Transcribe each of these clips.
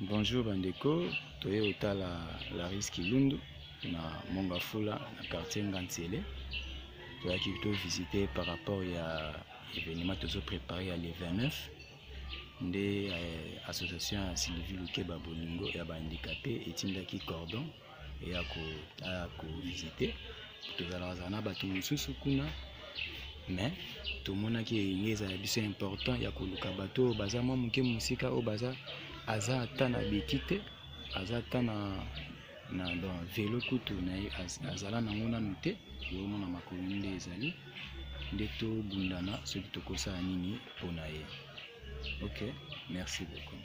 Bonjour bandeko, toye otala Laris Kilundu na Mongafula na quartier Ngantiele. Toyaki to visiter par rapport ya événement tozo préparer ya le 29 nde eh, association ya Sylvie Lukeba Bolingo ya ba handicapés etindaki cordon ya kovisite tozalakazala na bato mosusu kuna mais tomonaki enge ezala biso important ya koluka bato oyo baza mwa moke mosika oyo baza aza ata na beki te aza ata na na don velo kutu na ye azala nango nanu te eomona makolo nde ezali nde tobundana soki tokosala nini mpo na ye ok merci beaucoup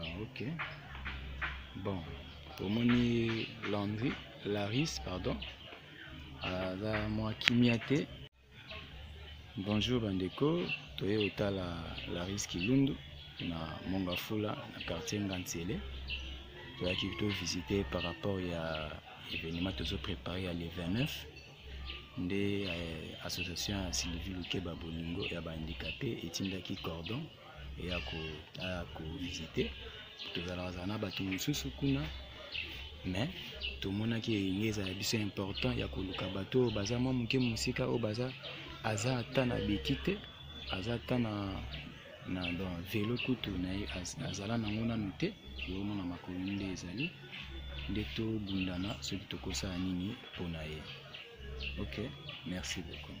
Ah, ok. Bon, omoni Landry, Laris, pardon. Aza mwa kimia te. Bonjour bandeko, toye otala Laris Kilundu na Mongafula na quartier Ngansele. Toyaki to visiter par rapport ya événement tozo préparer ya le 29 nde eh, association ya Sylvie Lukeba Bolingo ya ba handicapés etindaki cordon ya kovisite tozalaka na bato mosusu kuna mais tomonaki enge ezala biso important ya koluka bato oyo baza mwa moke mosika oyo baza aza ata na beki te aza ata na na don velo kutu na ye azala nango nanu te eomona makolo nde ezali nde tobundana soki tokosala nini mpo na ye ok merci beaucoup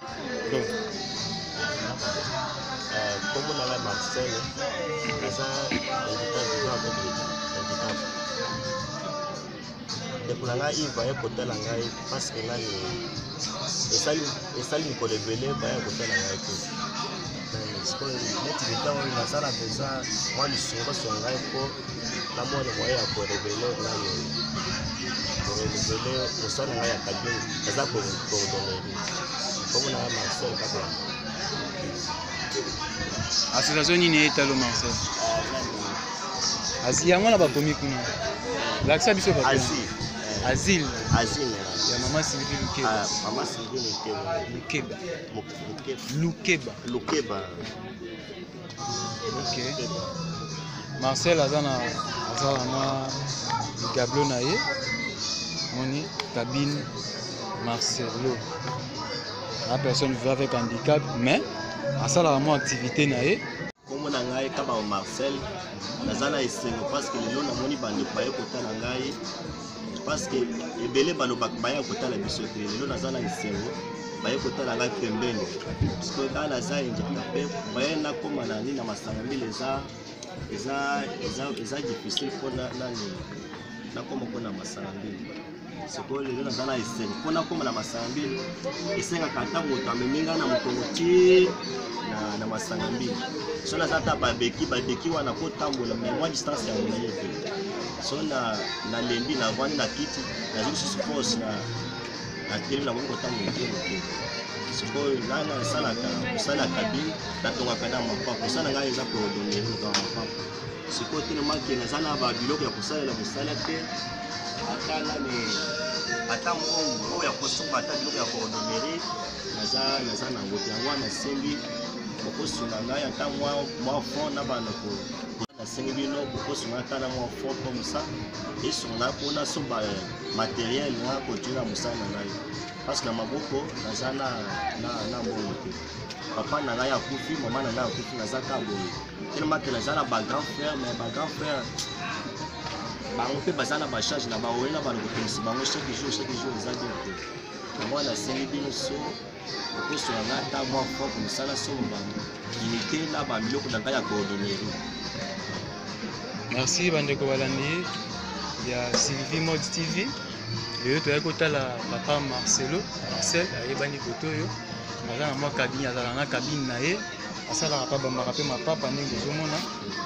kombo na ngai marcel naza ndeko na ngai ive aye kotala ngai parceke ngai esali mikolo ebele baya kotala ngai te sikoyo neti leta oyo naza na mpenza mwa lisongoso ya ngai mpo namona moye ya korevele nani korevele mosala ngai ya kabini eza koordonere komona ya marcel kaka association nini etalo marcel asi yango na bakomi kuna lakisa biso ba asile ya mama sylvie lukeba lukeba lukeba lukeba ok marcel aza na aza na mwa ligablo na ye moni cabine marcelo la personne vivra avec handicap mais asalaka mwa activité na ye nkombo na ngai kabao marcel naza na esengo parce que lelo namoni bandeko baye kotala ngai parce que ebele balobaka baya kotala biso te lelo naza na esengo baye kotala ngai pembeni parceke ngai naza handicapé moyen nakoma na nini na masanga mbili eza eza eza eza difficile mpo na nini nakoma mpo na masanga mbili sikoyo lelo naza na esengo mpo nakoma na masanga mbili esengaka ata moto amemi ngai na mokongo ti na, na masanga mbili so naza ata babeki babeki wana kotambola mai mwa distance ya molai te so na nalembi navandi na kiti nazwi lisusu force na natelemi nakomi kotanga moke moke sikoyo ngai nasalaka mosala ya kabine natongaka na mapapa mosala ngai eza koordonere loka mapapa sikoyo telemaki naza na babiloko ya kosalela mosala te ata nani ata mbongo oyo ya kosomba ata biloko ya koordonere naza naza na yango te yango wana nasengi okosunga ngai ata mwa fond na bana sengi bino kokosunga ata na mwa fond comme ça esunga mpona so ba materiel nga kotiela mosala na ngai parce que na maboko naza na, na, na mbongo te papa na ngai akufi mama na ngai akufi naza ka boye tellement ke naza na ba grand frère mais ba grand frère bango mpe baza na bacharge na baoye na bana kopelisi bango chaque jour chaque jour eza bien te yango wana nasengi bino so poso na ngai ata mwa fwa komosala somo bango unité na babiloko na ngai ya coordonnerie merci bandeko balandi ya sylvie mode tv lelo toyaki kotala papa marcelo marcel ayebani koto oyo aza na mwa kabine azala na kabine na ye asalaka mpa bambaka mpe mapapa ndenge ozomona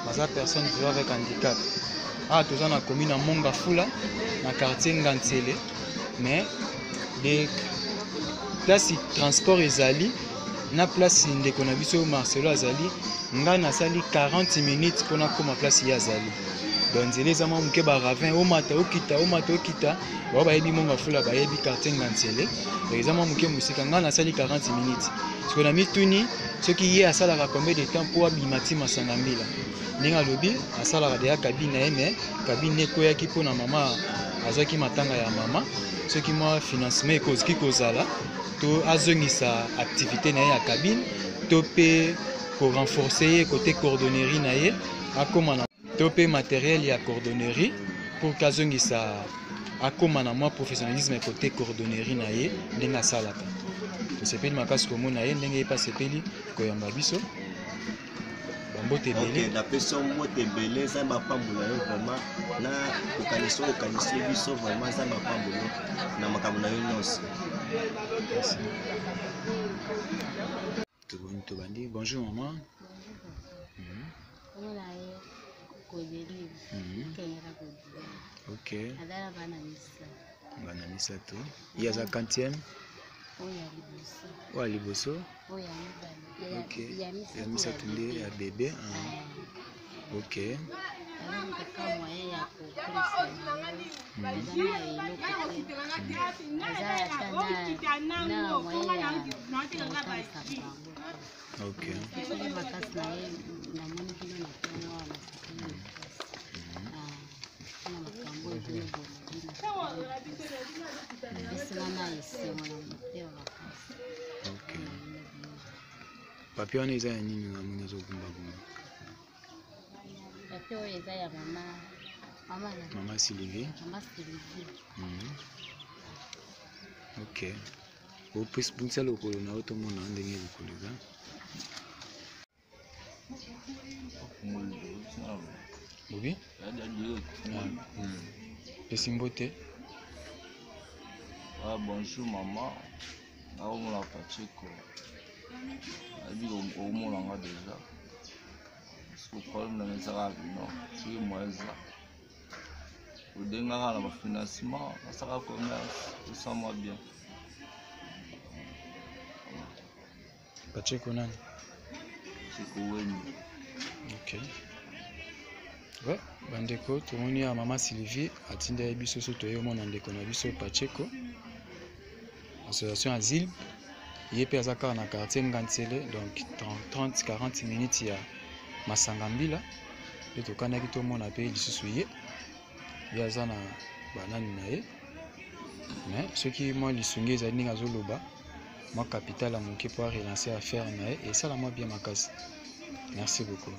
baza personne vivant avec handicap awa ah, toza na commune ya mongafula na quartier ngansele mais de place transport ezali na place ndeko na biso marcelo azali ngai nasali 40 minutes mpo nakóma place ye azali donc nzela eza mwa moke baravin omata okita omata okita bao bayebi mongo afula bayebi quartier ngansele donc eza mwa moke mosika ngai nasali 40 minutes siko na mituni soki ye asalaka combien de temps mpo abima ti masanga mbila ndenge alobi asalaka deya kabine na ye mais kabine ekweyaki mpo na mama azwaki matanga ya mama soki mwa financement ekoki kozala to azongisa activité na ye ya cabine to mpe korenforce ye kote coordonnerie na ye akóma na to mpe materiel ya coordonnerie pour ke azongisa akóma na mwa professionnalisme kote coordonnerie na ye ndenge asalaka tosepeli makasi komona ye ndenge ye mpe asepeli koyamba biso mbote ebele okay, napesi yo mbote ebele nzambe apambola yo vraiment na kokanisa oyo okanisi ye biso vraiment nzambe apambola yo na makambo na yo nyonso toboni tobandi bonjour maman mhm. mhm. ok bana misato ye aza kantieme oyo ya liboso ok ya misato nde ya bebe ah. ok ok papier wana eza ya nini namoni azogumbagumba papier oyo eza ya mama mama sylvie mhm. ok opesi bunisa lokolo na yo tomona ndenge lokolo eza Oui. Pesi mbote. Ah, bonjour maman. Naomona Pacheco. Abi omona nga déjà. Parce que problème na ezaka bino. Soki moyen eza. Odengaka na ba financement, nasaka commerce, osama bien. Pacheco nani? Pacheco Wenyi. Okay. Ouais, bandeko tomoni ya mama Sylvie atindaki biso so toye omona ndeko na biso Pacheco association asile ye mpe aza kaka na quartier Ngansele donc 30 40 minutes ya masanga mbila nde tokanaki tomona mpe lisusu ye ye aza na banani na ye mais soki mwa lisungi ezali ndenge azoloba mwa capital ya moke mpo arelancer affaire na ye esalama bien makasi merci beaucoup